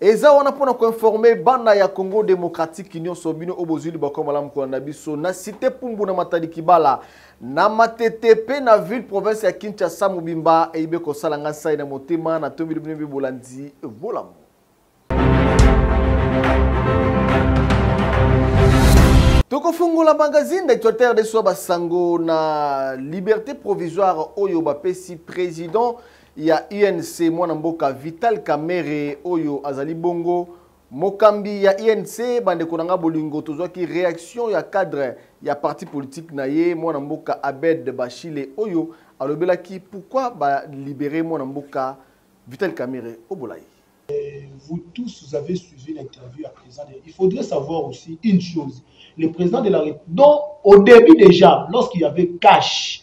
eza wana mpona koinforme bana ya congo démocratique nyonso bino oyo bozwi libakwa malamu kolanda biso na site pumbu na matadi kibala na matete mpe na ville province ya kinshasa mobimba eyibe kosala ngai nsai na motema na tombeli bino mpe bolandi bolamu tokofungola magazine d'actualité rdc basango na liberté provisoire oyo bapesi président ya UNC mwana mboka Vital Kamerhe oyo azali bongo mokambi ya UNC bandeko na nga bolingo tozwaki reaction ya cadre ya parti politique na ye mwana mboka Abed Bashile oyo alobelaki pourquoi ba libérer mwana mboka Vital Kamerhe obola ye vous tous, vous avez suivi l'interview à président. Il faudrait savoir aussi une chose. Le président de la République, donc au début déjà, lorsqu'il y avait cash,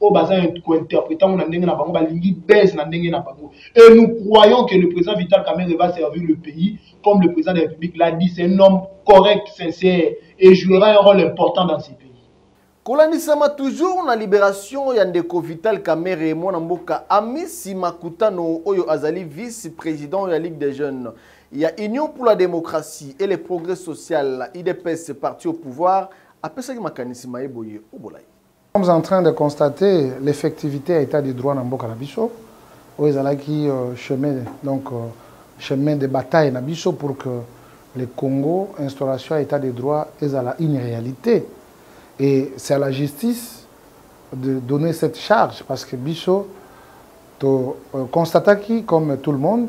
oyo baza ko interpreta ngo na ndenge na bango balingi buzz na ndenge na bango et nous croyons que le président Vital Kamerhe va servir le pays comme le président de la République l'a dit c'est un homme correct sincère et jouera un rôle important dans ce pays kolandisama toujours na liberation ya ndeko vital kamere mwana mboka amisi makutano oyo azali vice président ya ligue des jeunes ya union pour la démocratie et le progrès social idps parti au pouvoir apesaki makanisi maye boye obolai Nous sommes en train de constater l'effectivité ya état de droit na mboka na biso oyo ezalaki euh, chemin donc euh, chemin de bataille na biso pour que le Congo instauration ya état de droit ezala une réalité et c'est à la justice de donner cette charge parce que biso to euh, constataki comme tout le monde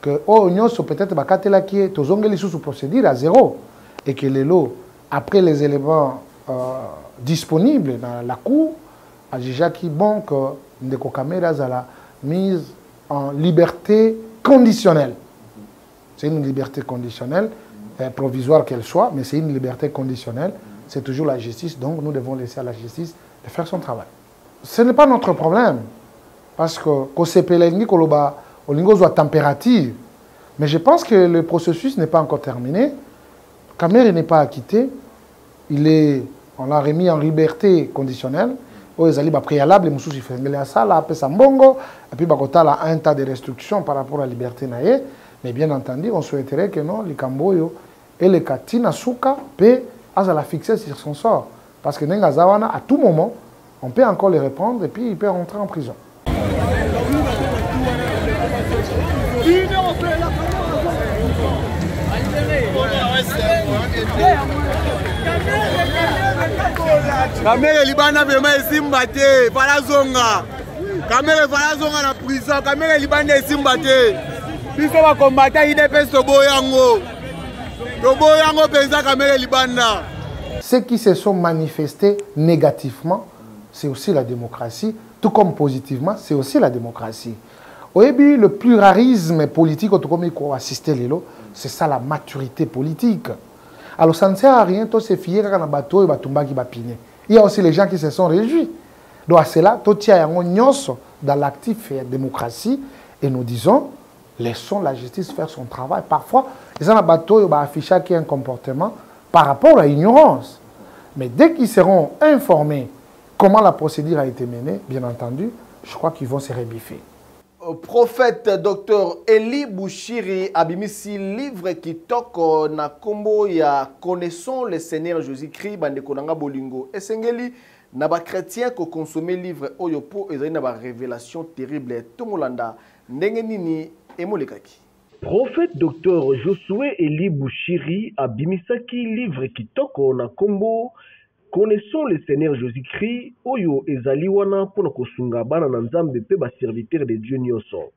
que oyo nionso peut etre bakatelaki ye tozongeli lisusu procédure à zéro et que lelo après les éléments euh, disponibles na la cour ajijaki bon que ndeko kamere azala mise en liberté conditionnelle c'est une liberté conditionnelle euh, provisoire qu'elle soit mais c'est une liberté conditionnelle c'est toujours la justice donc nous devons laisser à la justice de faire son travail ce n'est pas notre problème parce que kosepela elingi koloba olingi ozwa température mais je pense que le processus n'est pas encore terminé Kamere n'est pas acquitté il est on l'a remis en liberté conditionnelle oyo ezali bapréalable mosusu ifengele asala apesa mbongo epuis bakotala un tas de restriction par rapport à liberté na ye mais bien entendu on souhaiterait que non likambo oyo eleka ntina suka mpe azala fixe sur son sort Parce que ndenge aza wana, à tout moment, on peut encore le reprendre et puis il peut rentrer en prison. kamere libanda vrema esimba te fala zonga kamere fala zonga na prison kamere libanda esimba te biso bakombata idps toboyango toboyi yango mpenza kamere libanda ceux qui se sont manifestés négativement c'est aussi la démocratie tout comme positivement c'est aussi la démocratie oyebi le pluralisme politique oyo tokomi koassiste lelo c'est ça la maturité politique alors ça ne sert à rien tosefie kaka na bato oyo batumbaki bapine il y a aussi les gens qui se sont réjouis donc à cela totia yango nyonso dans l'actif ya démocratie et nous disons laissons la justice faire son travail parfois eza na bato oyo baaffichaki un comportement par rapport à ignorance mais dès qu'ils seront informés comment la procédure a été menée bien entendu je crois qu'ils vont se rebiffer euh, prophète docteur eli bushiri abimisi livre kitoko na nkombo ya connaissons le seigneur jésus christ bandeko na nga bolingo esengeli na bakretien kokonsome livre oyo mpo ezali na barévélation terrible tomolanda Ndenge nini emolekaki? Prophète Docteur Josue Elie Bushiri abimisaki livre kitoko na kombo Connaissons le Seigneur Jesus Christ oyo ezali wana mpo na kosunga bana na Nzambe mpe ba serviteurs de Dieu nionso.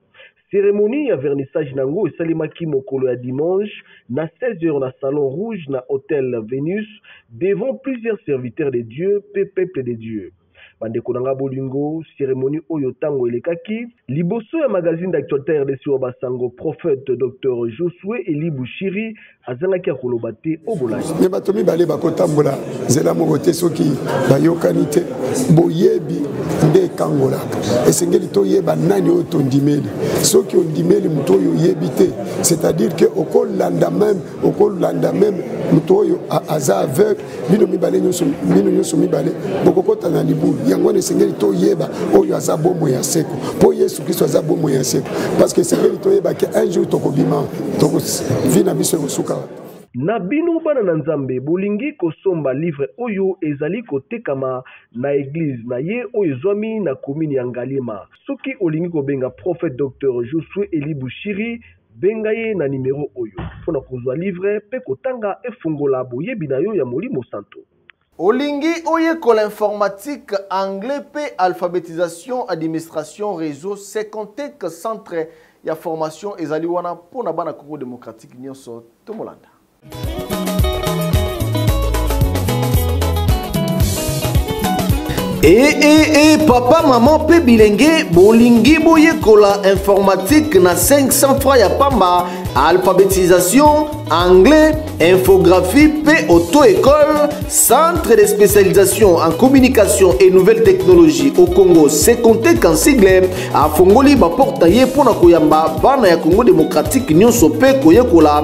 Ceremonie ya vernissage nango esalemaki mokolo ya dimanche na 16 heures na Salon Rouge na Hotel Venus devant plusieurs serviteurs de Dieu mpe peuple de Dieu. Bandeko na ngai ya bolingo, ceremonie oyo ntango elekaki liboso ya magazine d'actualites rdc wa ba sango prophète Docteur Josue Elie Bushiri azangaki ya koloba te o bolai. Mais bato mibale bakotambola nzela moko te soki bayokani te. Boyebi nde ekangolaka. Esengeli toyeba nani oyo tondimeli. Soki ondimeli moto oyo oyebi te, c'est-à-dire que okolanda meme, okolanda meme moto oyo aza aveugle bino mibale nyonso bino nyonso mibale bokokota na libulu yango wana esengeli toyeba oyo aza bomoi ya seko mpo yesu kristo aza bomoi ya seko parce que esengeli toyeba ke un jour tokobima vi na biso ekosuka na bino bana na nzambe bolingi kosomba livre oyo ezali kotekama na eglize na ye oyo ezwami na komini ya ngaliema soki olingi kobenga prophète docteur josue eli bushiri Benga ye na nimero oyo mpo na kozwa livre mpe kotanga Efungola boyebi na yo ya Molimo Mosantu. Olingi oyekola informatique, anglais mpe alphabetisation, administration, reseau? Secontech centre ya formation ezali wana mpo na bana Congo democratique nionso. Tomolanda. ee eh, ee eh, ee eh, papa mama mpe bilenge bolingi boyekola informatique na 500 francs ya pamba alphabetisation anglais infographie mpe auto-école centre de spécialisation en communication et nouvelles technologies au congo secontec en sigle afongoli baporta ye mpo na koyamba bana ya congo démocratique nyonso mpe koyekola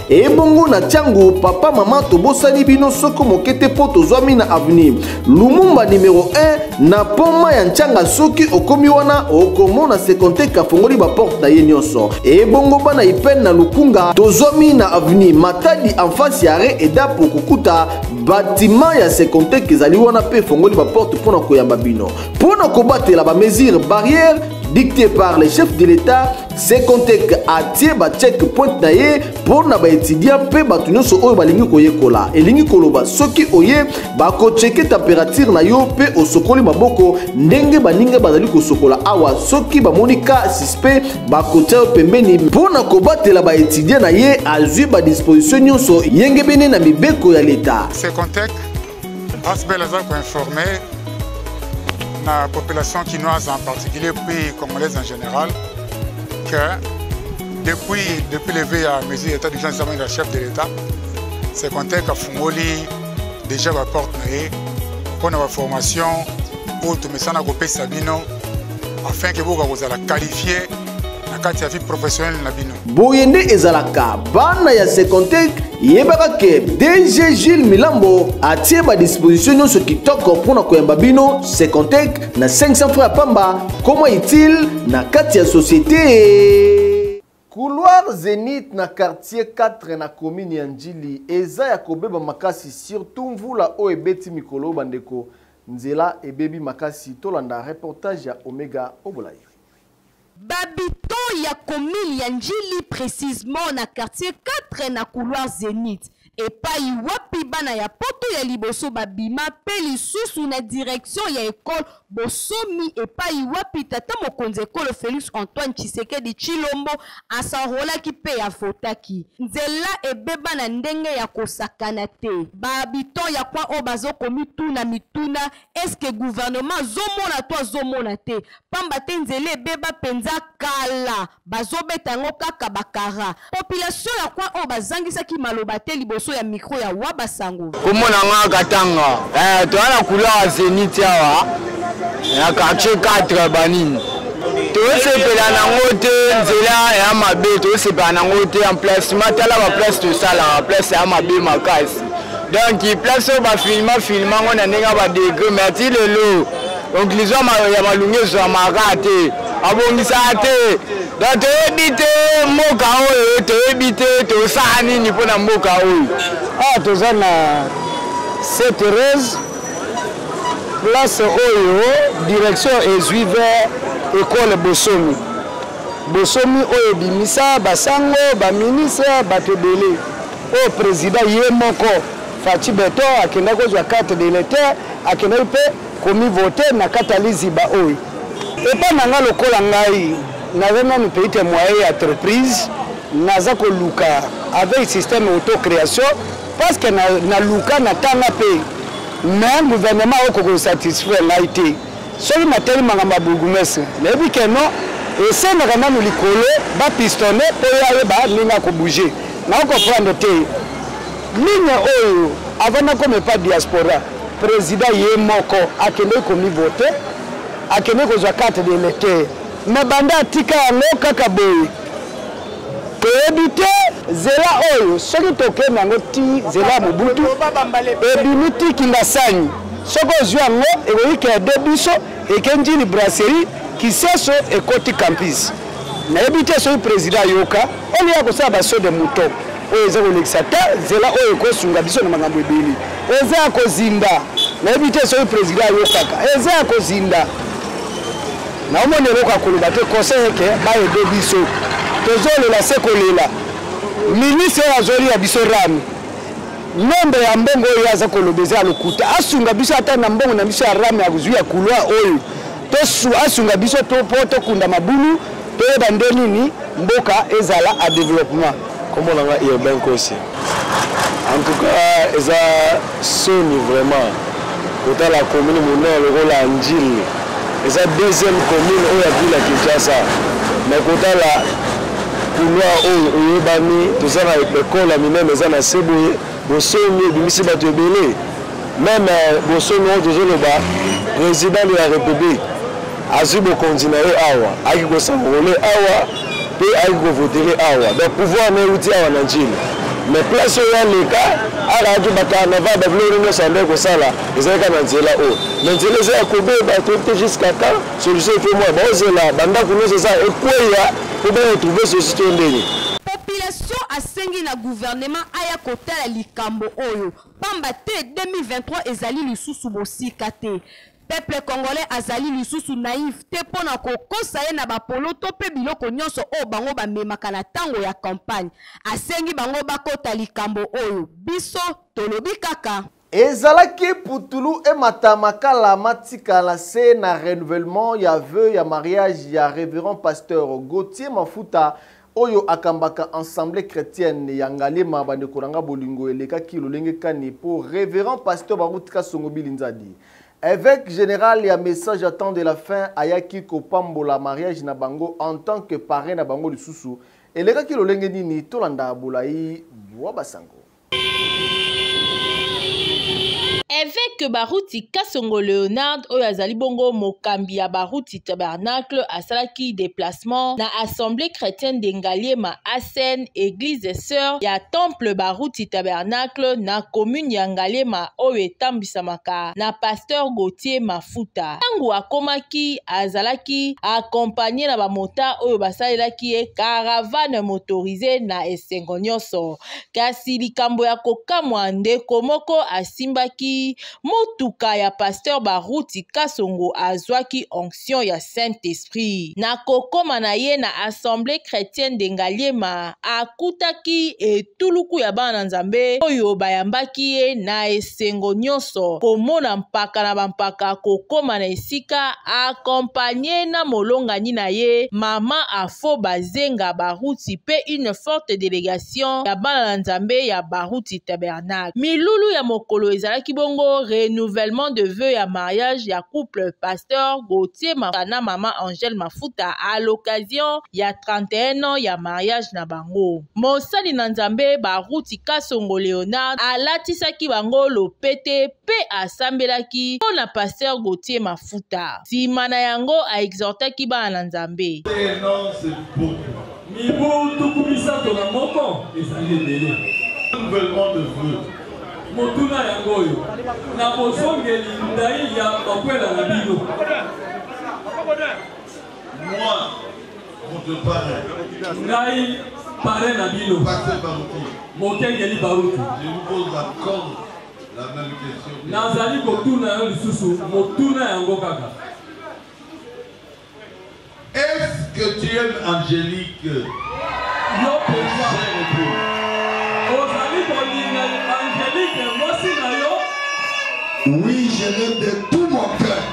ebongo na tiango papa mama tobosani bino soko moke te mpo tozwami na avenir lumumba numero 1 na poma ya ntianga soki okomi wana okomona sekonteke afongoli baporte na ye nyonso ebongo bana ipene na lukunga tozwami na avenir matadi enfasi ya re edapo kokuta batima ya sekonteke ezali wana mpe efongoli baporte mpo na koyamba bino mpo na kobatela bamesure barrière dicté par le chef de l'État Secontech atie ba check point na ye mpo na baetudiant mpe bato nyonso oyo balingi koyekola elingi koloba soki oye bakocheke temperature na yo mpe osokoli maboko ndenge baninga bazali kosokola awa soki bamoni ka suspect bakotia yo pembeni mpo na kobatela baetudiant na ye azwi badisposition nyonso yengebene na mibeko ya leta Secontech Asbel aza koinforme na population kinoise en particulier puis congolaise en général que depuis, depuis levé ya mesure d'état d'urgence ezamaki na chef de l'état se conteke afungoli déjà baporte na ye mpo na baformation oyo tomesana kopesa bino afin ke bokoka kozala qualifie na kati ya vie professionnelle na bino boye nde ezalaka bana ya secontec yebaka ke dg gile milambo atie badisposition nyonso kitoko mpo na koyamba bino secontec na 500 fra ya pamba koma itile na kati ya societe couloir zenith na quartier 4 na commune ya njili eza ya kobeba makasi surtout mvula oyo ebeti mikolo bandeko nzela ebebi makasi tolanda reportage ya omega obolayi B'habitants ya commune ya N'djili precisement na quartier 4 na couloir Zenith epayi wapi bana ya poto ya liboso babima mpe lisusu na direction ya ecole Bosomi epayi wapi tata mokonzi ekolo Felix Antoine Tshisekedi Tshilombo a s'enrolaki mpe a votaki. Nzela ebeba na ndenge ya kosakana te. Ba habitants ya coin oyo bazo komituna mituna eske gouvernement azomona to azomona te pamba te nzela ebeba mpenza kala bazobeta yango kaka bakara population ya kwa oyo bazangisaki maloba te liboso ya mikro ya wa basango komona nga katanga eh, toya na kulaa zenit awa na quartier 4 banini tosepela nango te nzela ya mabe tosepela nango te emplacement tala baplace tosalaka place ya mabe makasi donc place oyo bafilma filma ngo na ndenge ya badegre mais ati lelo conclusion ya malunga ezwamaka te abongisaka te donc toyebi te mboka oyo toyebi te tosala nini mpo na mboka oyo awa ah, toza na seterese place oyo direction ezwi vers ekole bosomi bosomi oyo ebimisa basango baministre bato ebele Oyo president ye moko Fatshi Beton akenda kozwa carte d'electeur akendaki mpe komi voter na kata liziba oyo. Epai na ngai lokola ngai naza nanu petit temoin ya entreprise naza koluka avec système auto creation parce que naluka na tanga mpe mais gouvernement akoki ko satisfaire ngai te. Soki natali makambo ya bourgoumestre, nayebi que non, esengaka nanu likolo ba pistonner mpo ye ayeba ndenge ako bouger. Nako comprendre te ligne oyo avant nakoma epai diaspora, president ye moko akendeki ko mi voter, akendeki kozwa carte d'electeur mais banda atika yango kaka boye. toyebi te zela oyo soki tokende yango ti zela mobutu ebimi ti kingasani soki ozwi yango ekoyikela de biso eke njili brasserie kiseso ekoti campus nayebi te soki président ayoka olie ya kosala baso de mouton oyo eza kolekisa te zela oyo ekosunga biso na makambo ebele eza ya kozinda nayebi te soki président ayokaka eza ya kozinda Naomoni eloko ya koloba te conseil eke ba ede biso tozolela se kolela ministre oyo azoliya biso rami nombre ya mbongo oyo aza koloba eza ya lokuta asunga biso ata na mbongo na biso ya rami azwi ya kulwa oyo asunga biso mpo tokunda mabulu toyeba nde nini mboka ezala a developpement Kombo na nga Urbain Kosi. En tout cas eza soni vraiment kotala commune monene lokola Ndjili eza deuxième commune oyo ya ville ya Kinshasa mais kotala couloir oyo oyebani toza na ekole ya minene eza na se boye bosomi ebimisi bato ebele meme euh, bosomi oyo tozoloba président de la république azui bokonzi na ye awa ayaki kosanrole awa mpe ayaki kovotere awa donc pouvoir na euti awa na njili mais place oyo aleka akayaki bacarnaval babiloko nini nyonso andaki kosala ezalaki kaka na nzela oyo na nzela eza ya kobeba toyebite jusqu'à temps solution efo moya baozela bandako nyonso eza ekweya mpo baretrouve sosi to ndenge population asengi na gouvernement aya kotala likambo oyo pamba te 2023 ezali lisusu mosika te Peuple congolais azali lisusu naïf te mpo na kokosa ye na bapoloto mpe biloko nyonso oyo bango bamemaka na ntango ya campagne. Asengi bango bakota likambo oyo. Biso tolobi kaka. Ezalaki putulu emata makala matikala se na renouvellement ya vœux ya mariage ya Reverend Pasteur Gauthier Mafuta oyo akambaka Ensemble Chretienne ya Ngaliema bandeko na nga bolingo elekaki lolenge kani po Reverend Pasteur Baruti Kasongo Bilinzadi Evêque général ya message à temps de la fin ayaki kopambola mariage na bango en tant que parrain na bango lisusu elekaki lolenge nini tolanda bolai bwa basango Evêque Baruti Kasongo Leonard oyo azali bongo mokambi ya Baruti tabernacle asalaki déplacement na assemblée chrétienne de ngaliema asn église des sœurs ya temple baruti tabernacle na commune ya ngaliema oyo etambisamaka na pasteur gautier mafuta ntango akomaki azalaki akompagne na bamota oyo basalelaki ye caravane motorise na esengo nyonso kasi likambo ya kokamwa ndeko moko asimbaki motuka ya pasteur Baruti Kasongo azwaki onction ya Saint-Esprit. Na kokoma na ye na Assemblée chrétienne de Ngaliema, akutaki etuluku ya bana Nzambe oyo bayambaki ye na esengo nyonso komona mpaka na bampaka kokoma na esika accompagné na molongani na ye mama Afo Bazenga Baruti mpe une forte délégation ya bana na Nzambe ya Baruti Tabernacle. na milulu ya mokolo ezalaki bongo renouvellement de vœux ya mariage ya couple pasteur Gauthier Maka na mama Angèle Mafuta à l'occasion ya 31 ans ya mariage na bango. Mosali na Nzambe Baruti Kasongo Leonard alatisaki bango lopete mpe asambelaki mpo na pasteur Gauthier Mafuta. Nsima na yango a exhortaki bana na Nzambe. Mibu tuku misato na moko ezali ebele. Renouvellement de vœux. Motuna yango oyo, na bozongeli ndai ya bakwela na bino. Moi, votre parrain. Ngai parrain na bino. Pasteur Baruti. Mokengeli Baruti. Je vous pose encore la même question. Nazali kotuna yo lisusu motuna yango kaka. Est-ce que tu aimes Angelique? Yo penza ozali kolinga Angelique mwasi na yo? Oui, je l'aime de tout mon cœur.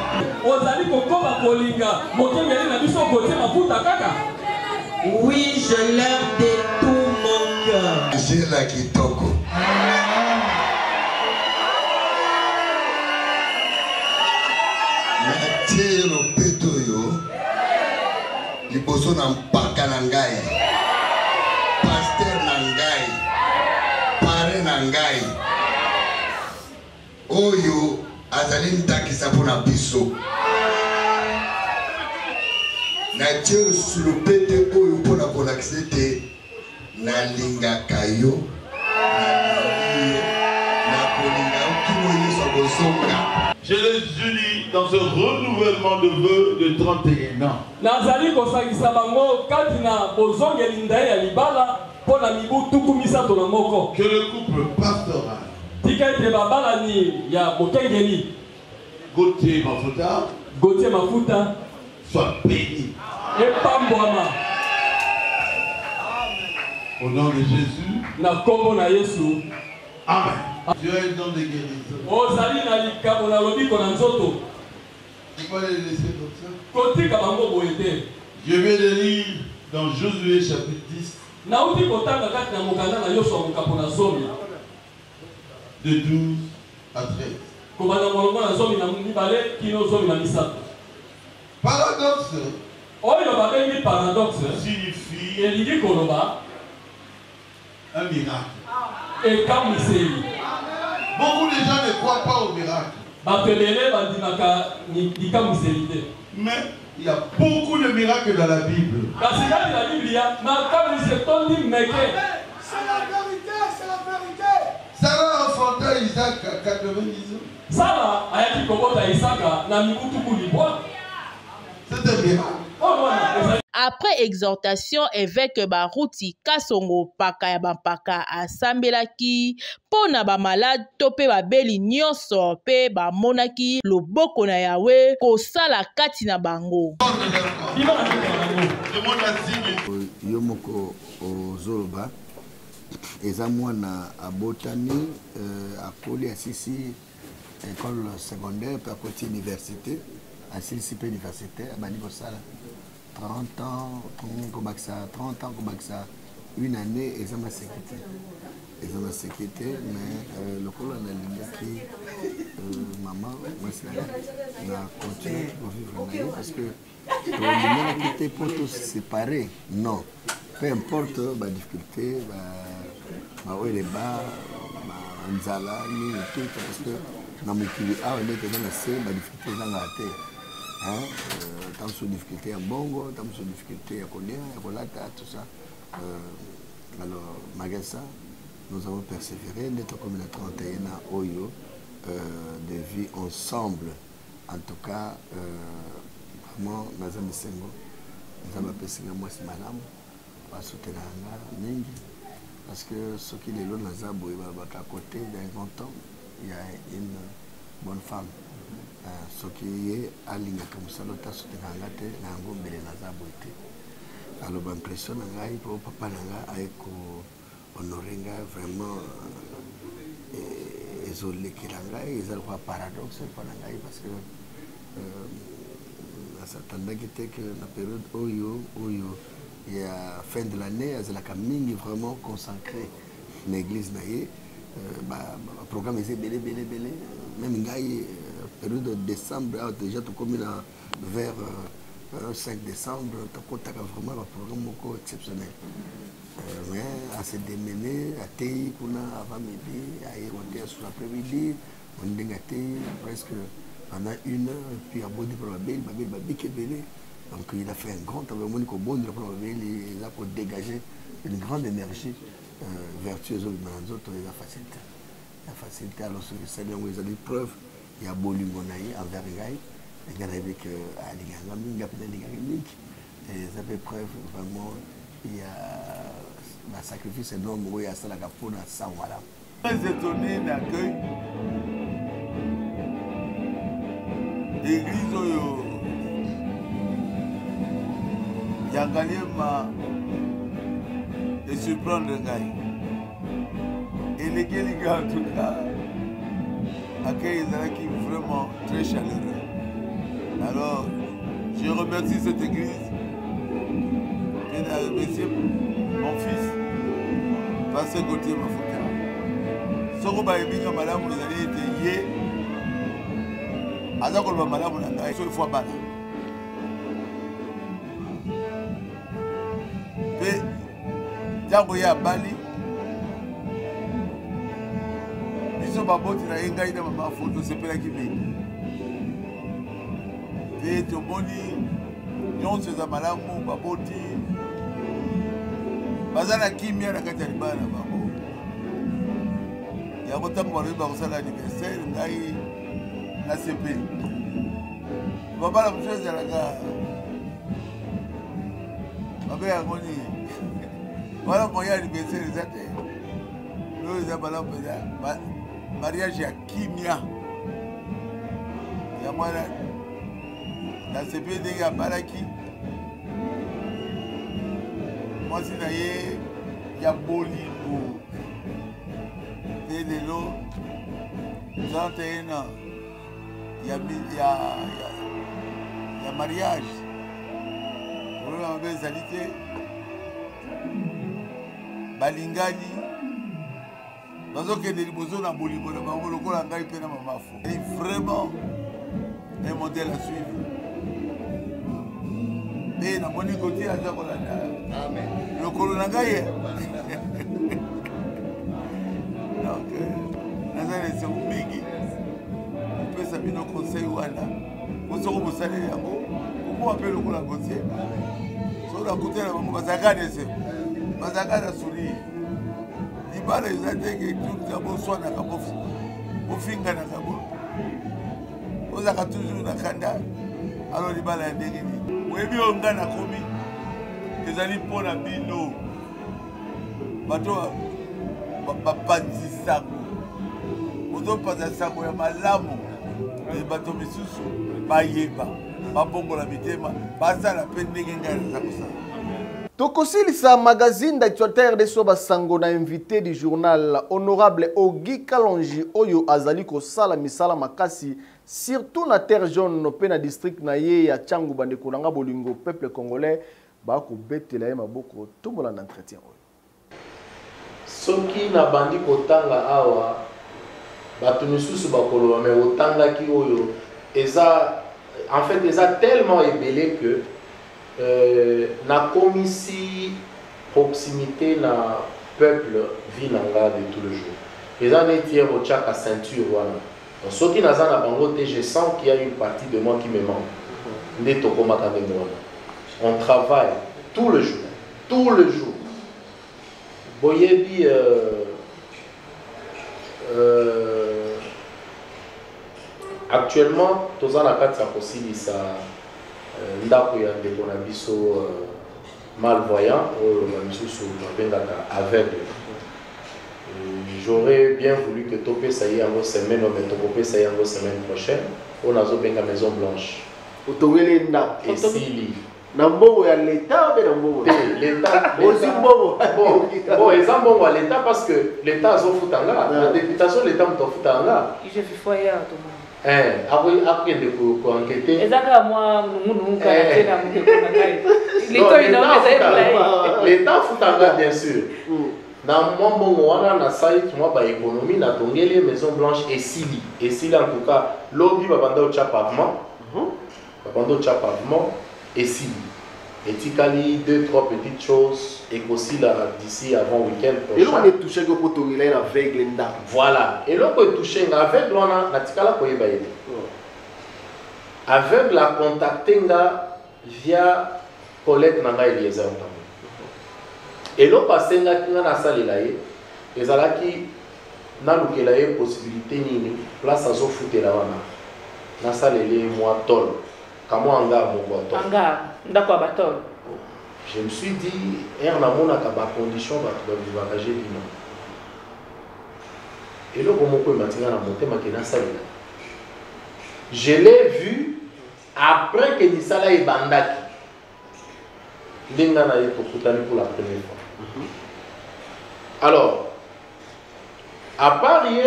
Ozali kokoba kolinga mokengeli na biso Gauthier Mafuta kaka? Oui, je l'aime de tout mon cœur. Angela Kitoko. natie lopeto oyo liboso na mpaka na ngai paster na ngai pare na ngai Oyo azali ndakisa mpo na biso. Natie lisusu lopete oyo mpo na kolakisa ete nalingaka yo, nalingi yo, nakolinga yo kino Yesu akozonga. Je les unis dans ce renouvellement de vœux de 31 ans. Nazali kosangisa bango kati na bozongeli ndai ya libala. Mpo na mibu tuku misato na moko. Que le couple pastoral. Tika ete babalani ya mokengeli. Gauthier Mafuta. Gauthier Mafuta. Soit béni. Epambwama. Au nom de Jésus. Na kombo na Yesu. Amen. Tu as un don de guérison. Ozali na likabo na lobiko na nzoto. Tu peux les laisser comme ça. Kotika bango boye te. Je vais le lire dans Josué chapitre 10. Nauti kotanga kati na mokanda na Yosua mokapo na zomi. De 12 à 13. Kobanda molongo na zomi na mibale kino zomi na misato. Paradoxe. Oyo babengi paradoxe. Signifie. Elingi koloba. Un miracle. Ekamwiseli. Beaucoup de gens ne croient pas au miracle. Bato ebele bandimaka ni- bikamwiseli te. Mais il y a beaucoup de miracles dans la Bible. Kasi kati na Biblia, makamwisi etondi meke. C'est la vérité, c'est la vérité. Sarah enfanta Isaac à 90 ans. Sara ayaki kobota Isaka na mibu tuku libwa. Après exhortation, eveke Baruti Kasongo Mpaka ya Bampaka asambelaki mpo na bamalade to mpe babeli nyonso mpe bamonaki loboko na Yawe kosala kati na bango. Yo moko ozoloba eza mwana abotami euh, akoli asisi école secondaire mpe akoti université asilisi mpe université abandi kosala 30 ans kobakisa 30 ans kobakisa une année eza maseki te eza maseki te mais euh, lokola nalingaki euh, mama mwasi na continue kovivre na ye parce que tolinganaki te mpo tosepare non peu importe badifficulté baoyo eleba banzala nini tout parce que na mokili awa nde toza na se badifficulté ezangaka te ntango mosusu difficulté ya mbongo ntango mosusu difficulté ya kolia ya kolata tout ça euh, alors malgré ça nous avons persévéré nde tokomi na 31 ans oyo euh, de vie ensemble en tout cas euh, vraiment naza misengo nzambe apesi nga mwasi malamu basutenaka nga mingi parce que soki lelo naza boye balobaka côté d'un grand homme ya une bonne femme euh, soki ye alingaka mosala ote asutenaka nga te na yango mbele naza boye te aloba impression na ngai mpo papa na ngai aye ko honore nga vraiment eh, ezolekela ngai eza lokola paradoxe mpo na ngai parce que euh, nasatandaki te ke na periode oyo oyo ya fin de l'année azalaka mingi vraiment consacré na église na ye euh, baprogramme eza ebele ebele ebele meme ngai euh, periode de décembre awa ah, déjà tokomi na vers euh, 5 euh, décembre tokotaka vraiment baprogramme moko exceptionnel euh, mais ase demene ateyi kuna avant midi aye kote ya sur après midi moni ndenge ateyi presque pendant une heure puis abodi mpo na babeli babeli babiki ebele donc il a fait un grand travail omoni kobondela mpo na babeli eza kodégage une grande énergie euh, vertu ezobima na nzoto eza facilité ya facilité alors soki esali yango ezali preuve ya bolingo na ye envers ngai nga nayebi ke alingaka nga mingi ape nalingaka mingi eza mpe preuve vraiment ya basacrifice enorme oyo asalaka mpo na sango malamu très étonné na accueil église oyo ya ngaliema esurprendre ngai elekeli nga en tout cas accueil ezalaki vraiment très chaleureux alors je remercie cette église mpe na remercie mon fils pase gotie mafuta soko bayebi nga malamu ezali ete ye aza koloba malamu na ngai soki fwa bana mpe ntango ye abali biso baboti na ye ngai na mama fo tosepelaki mingi te tomoni nyonso eza malamu baboti baza na kimia na kati ya libala na bango yango ntango balobi bakosala aniversaire ngai nasepeli babala mosusu ezalaka babe yango nini wana moyen anniversaire eza te oyo eza bala mpenza mariage ya kimia ya mwana nasepe ndenge abalaki mwasi na ye ya bolingo te lelo 31 ans ya, ya, ya, ya mariage kolona mabe ezali te balingani bazokende liboso na bolingo na bango lokola ngai mpe na mamafo vraiment un modèle à suivre mpe namoni kotia aza kolanda lokolo na ngai donc euh, naza na esengo mingi kopesa bino conseil wana bosoko bosaleli yango kokoa mpe lokola gotie soki nakutana bango bazalaka dese bazalaka na sourire libala eza ndenge tuta boswanaka bofinganaka bo ozalaka toujours na kanda alo libala ya ndenge nini oyebi oyo ngai nakomi ezali mpo na bino bato bapanzi sango ozopanza sango ya malamu e bato misusu bayeba babongola mitema basala mpe ndenge ngai naza kosala tokosilisa magazine d'actualitaire de soba sango na invité du journal honorable ogi kalonji oyo azali kosala misala makasi surtout na terre jaune mpe na district na ye ya changu bandeko na nga bolingo peuple congolais Ba ko betela ye maboko to bolanda entretien oyo. Soki na bandi kotanga awa batu misusu bakoloba mais otangaki oyo eza en fait eza tellement ebele que nakomisi proximite na peuple vie na nga de tout le jour eza neti heure otiaka ceinture wana Donc soki naza na bango te, je sens qu'il y a une partie de moi qui me manque. Nde tokomaka ndenge wana. On travaille tout le jour, tout le jour. Boyebi euh, euh, actuellement toza na kati ya kosilisa euh, ndako ya ndeko na biso euh, malvoyant oyo ba misusu babengaka aveugle j'aurais bien voulu que topesa ye yango semaine oyo mais tokopesa ye yango semaine prochaine oyo nazobenga maison blanche otongeli ye ndako esili na mbongo ya leta mpe na mbongo ozwi mbongo bon eza mbongo ya leta parce que leta azofuta nga na deputation leta moto afutaka nga Eh, akende koankete eza kaka mwa nungunungu eh. kaka te na mokeko na ngai litoi na oyo ezali molai leta afutanga bien sûr hmm. na mwa mbongo wana na site mwa baekonomi natongeli ye maison blanche esili esili en tout cas lobi babanda otya pavement Babanda otya pavement, esili. Etikali deux trois petites choses ekosila d'ici avant week-end prochain. Eloko nde touchaki yo mpo tongela ye na aveugle ndako. Voilà, eloko etouche nga aveugle wana natikala koyeba ye te. Aveugle acontacte nga via collègue na ngai Eliezer Ntambo. Eloko asengaki nga nasalela ye ezalaki Nalukela ye possibilite nini place azo futela wana nasalela ye mua tol ka mua hangar moko ya tol. Hangar, ndako ya ba tol. Je me suis dit heure namonaka ba conditions batu ba vivaka j'ai dit non. Eloko moko emati nga na motema ke nasalela. Je l'ai vu après que misala ebandaki. nde nga na ye tokutani pour la première fois mhm. alors à part ye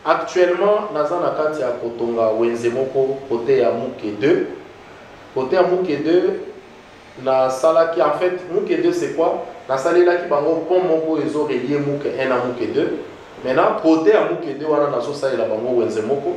actuellement naza na kati ya kotonga wenze moko kote ya muke 2 kote ya muke 2 nasalaki en fait muke 2 c'est quoi nasalelaki bango pont moko ezo relie muke 1 na muke 2 maintenant kote ya muke 2 wana nazosalela bango wenze moko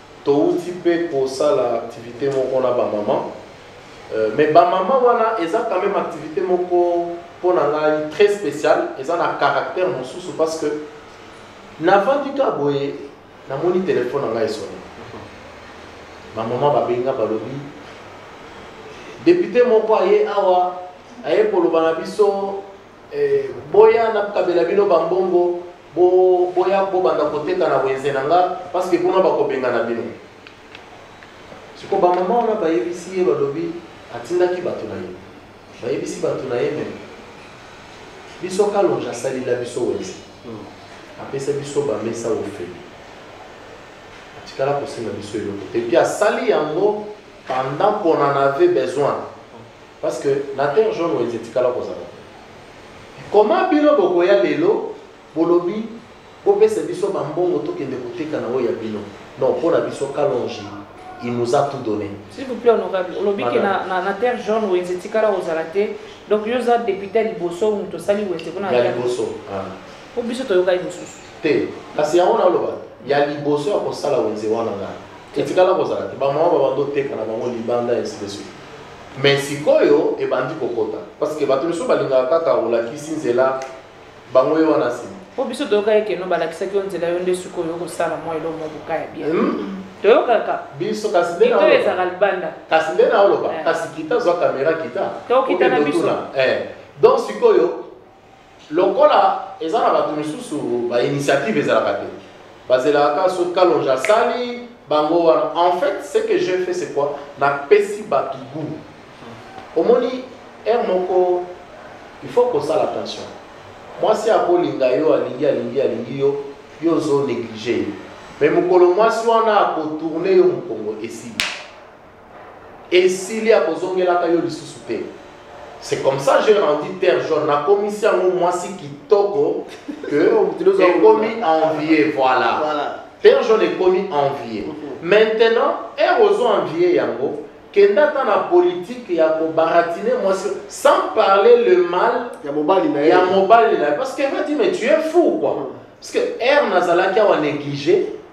Towuti mpe kosala activite moko na ba maman mais ba maman wana eza quand meme activite moko mpo na ngai très special eza na caractère mosusu parce que navandi ka boye namoni telefone na ngai esoni ba maman babenga balobi depute moko aye awa aye koloba na biso eh, boya nakabela bino bambongo Bo boya bo banda koteka na wenze na nga parce que kuna bakobengana bino. Siko ba mama wana bayebisi ye balobi atindaki bato na ye bayebisi bato na ye meme biso kalonge asalila biso wenze hmm. apesa biso bamesa ofeli atikala kosenga biso eloko te puis asali yango pendant qu'on en avait besoin parce que na terre jaune wenze etikala kozala Comment bino bokoya lelo bolobi bopesa biso ba mbongo tokende koteka na oyo ya bino non pona biso kalonji il nous a tout donné s'il vous plaît honorable olobi ke na, na, na terre jaune wenze etikala ozala te donc yo oza depute ya liboso moto osali wenze kuna ya liboso ah. po biso toyokaki mosusu te kasi yango naloba ya liboso ya kosala wenze wana ngai etikala kozala te bamama babanda oteka na bango libanda ainsi de suite mais sikoyo ebandi kokota parce que bato misusu balingaka kaka olakisi nzela bango ye wana nsima po biso toyokaki keno balakisaki yo nzela yo nde sikoyo okosala mwa eloko mwa boka ya bien hmm? toyokaka biso kasi nde to ezaka libanda kasi nde naoloba eh. kasi kita zwa kamera kita tokita na biso eh. donc sikoyo lokola eza na bato misusu ba initiative ezalaka te bazelaka kaka soki kalonge asali bango wana en fait ce que je fait c'est quoi napesi bato gout omoni heure moko il faut kosala attention mwasi akolinga yo alingi alingi alingi yo yo ozo néglige ye mais mokolo mwasi wana akotourne yo mokongo esili esili akozongelaka yo lisusu te c'est comme ça j'ai rendu terre jaune nakomisi yango mwasi kitoko que ekomi envie voilà, voilà. terre jaune ekomi envie mhm. maintenant ere ozo envie yango kenda ata na politike ya kobaratine mwasi sans parler le mal ya mobali na ye parce que va dire mais tu es fou quoi mhm. parce que ere nazalaki awa néglige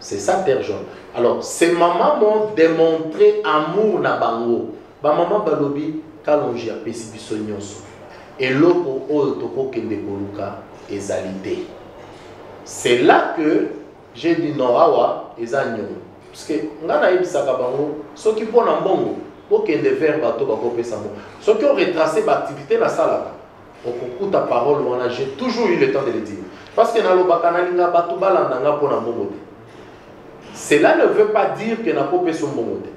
C'est ça Père John. Alors, ces mamans m'ont démontré amour na bango. Ba maman balobi kalonji ya pesi biso nyonso. Eloko oyo tokokende koluka ezali te. C'est là que j'ai dit non awa eza nyongo. Parce que nga nayebisaka bango soki mpo na mbongo bokende vers bato bakopesa mbongo. Soki o retracer ba activité nasalaka okokuta parole wana j'ai toujours eu le temps de le dire parce que nalobaka nalinga bato balanda nga mpo na mbongo te cela ne veut pas dire que nakopesa mbongo te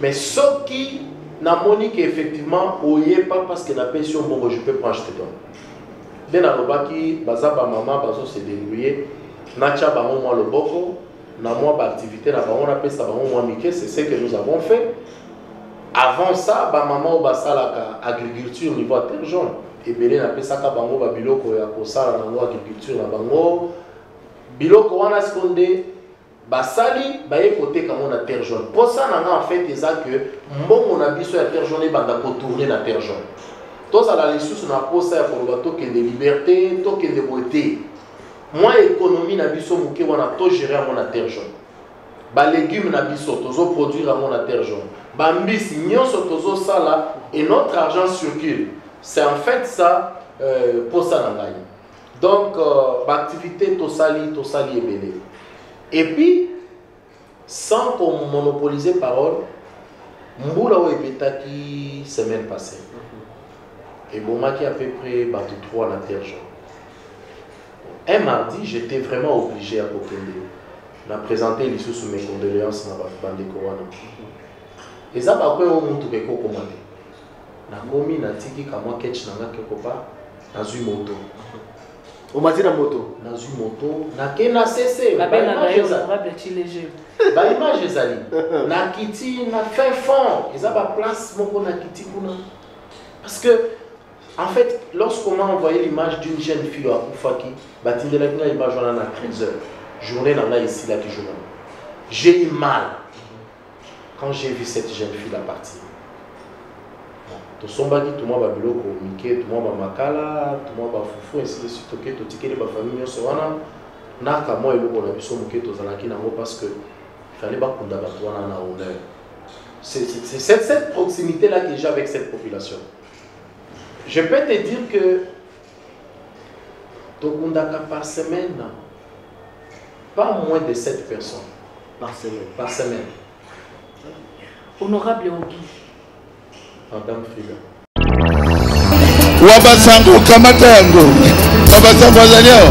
mais soki namoni ke effectivement oye pas parce que napesi yo mbongo je peux prendre je te donne nde nalobaki baza bamama bazo se débrouiller natya bango mwa loboko na mwa baactivité na bango napesa bango mwa mike c'est ce que nous avons fait Avant ça, ba maman oyo basalaka agriculture niveau ya Terjon, ebele napesaka bango ba biloko ya kosala nango agriculture na bango. Biloko wana siko nde basali baye koteka yango na terre jaune mposa na nga en fait eza que mbongo na biso ya terre jaune ebanda kotourne na terre jaune tozala lisusu na mposa ya koloba tokende liberté tokende boye te mwa ekonomi na biso moke wana togere yango na terre jaune ba legumes na biso tozo produire yango na terre jaune ba mbisi nyonso tozo sala et notre argent circule c'est en fait ça euh, posa na ngai donc euh, ba activité tosali tosali ebele et puis sans qu'on monopoliser parole mbula oyo ebetaki semaine passée mhm. ebomaki à peu près bato 3 na terre jaune Un mardi j'etais vraiment oblige ya kokende na presenter lisusu mes condoleances na ba ndeko wana. Eza ba kwe o mutuka ekokoma te. Nakomi natiki kamwa ketch na nga quelque part nazwi moto. omati na moto nazwi moto nake na sese babengaka yo honorable chilege baimage ezali nakiti na fin fond eza baplace moko nakiti kuna parce que En fait, lorsqu'on m'a envoyé l'image d'une jeune fille à Koufaki, batindelaki ngai image wana na 13 heures. Journée na ngai esilaki jour wana. J'ai eu mal quand j'ai vu cette jeune fille la partir. tosombaki tomwa babiloko mike tomwa bamakala tomwa bafufu ainsi de suite toke totikeli bafamille nyonso wana na kamwa eloko na biso moke tozalaki nango parce que fallait bakunda bato wana na honneur c'est cette proximité là que j'ai avec cette population Je peux te dire que tokundaka par semaine pas moins de 7 personnes. Par semaine. Par semaine. Honorable Ogi. Madame Frida. Wabasango kamata yango. Wabasango azali awa.